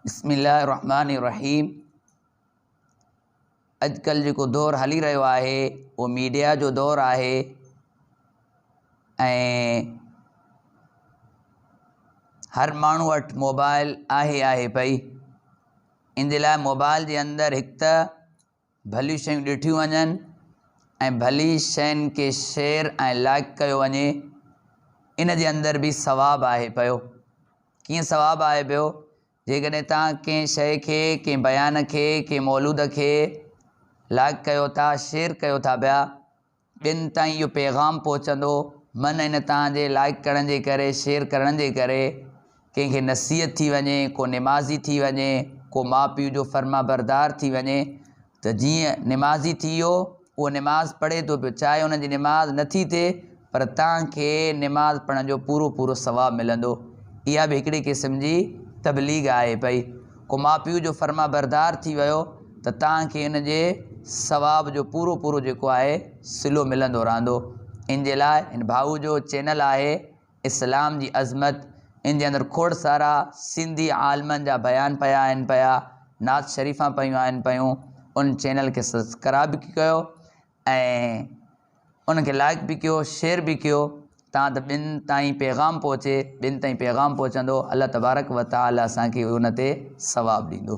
بسم الله الرحمٰن الرحيم اڄڪلهه جيڪو دور هلي رهيو آهي اهو ميڊيا جو دور آهي ۽ هر ماڻهو وٽ موبائل آهي آهي پئي ان جي لاء موبائل جي اندر هڪ ته ڀليون شيون ڏٺيون وڃن ۽ ڀلي شين کي شيئر ۽ لائيڪ ڪيو وڃي ان جي اندر به ثواب آهي پيو ڪيئن ثواب آهي پيو جيڪڏهن توهان ڪنهن شيء کي ڪنهن بيان کي ڪنهن مولود کي لائيڪ ڪيو ٿا شيئر ڪيو ٿا پيا ٻين تائين اهو پيغام پهچندو من ان تان جي لائڪ ڪرڻ جي ڪري شيئر ڪرڻ جي ڪري ڪنهن کي نصيحت ٿي وڃي ڪو نمازي ٿي وڃي ڪو ماء پيء جو فرما بردار ٿي وڃي ته جيئن نمازي ٿي ويو اهو نماز پڙهي ٿو پيو چاهي ان جي نماز نه ٿي ٿئي پر تان کي نماز پڙهڻ جو پورو پورو ثواب ملندو اها به هڪڙي قسم جي تبليغ آهي پئي ڪو ماء پيء جو فرمانبردار ٿي ويو ته توهان کي ان جي ثواب جو پورو پورو جيڪو آهي صلو ملندو رهندو ان جي لاء ان ڀاء جو چينل آهي اسلام جي عظمت ان جي اندر کوڙ سارا سنڌي عالمن جا بيان پيا آهن پيا نعت شريفان پيون آهن پيون ان چينل کي سبسڪرائب ڪيو ۽ انهن کي لائق به ڪيو شيئر به ڪيو تان ته ٻين تائين پيغام پهچي ٻين تائين پيغام پهچندو الله تبارڪ وتعالي اسان کي ان تي ثواب ڏيندو.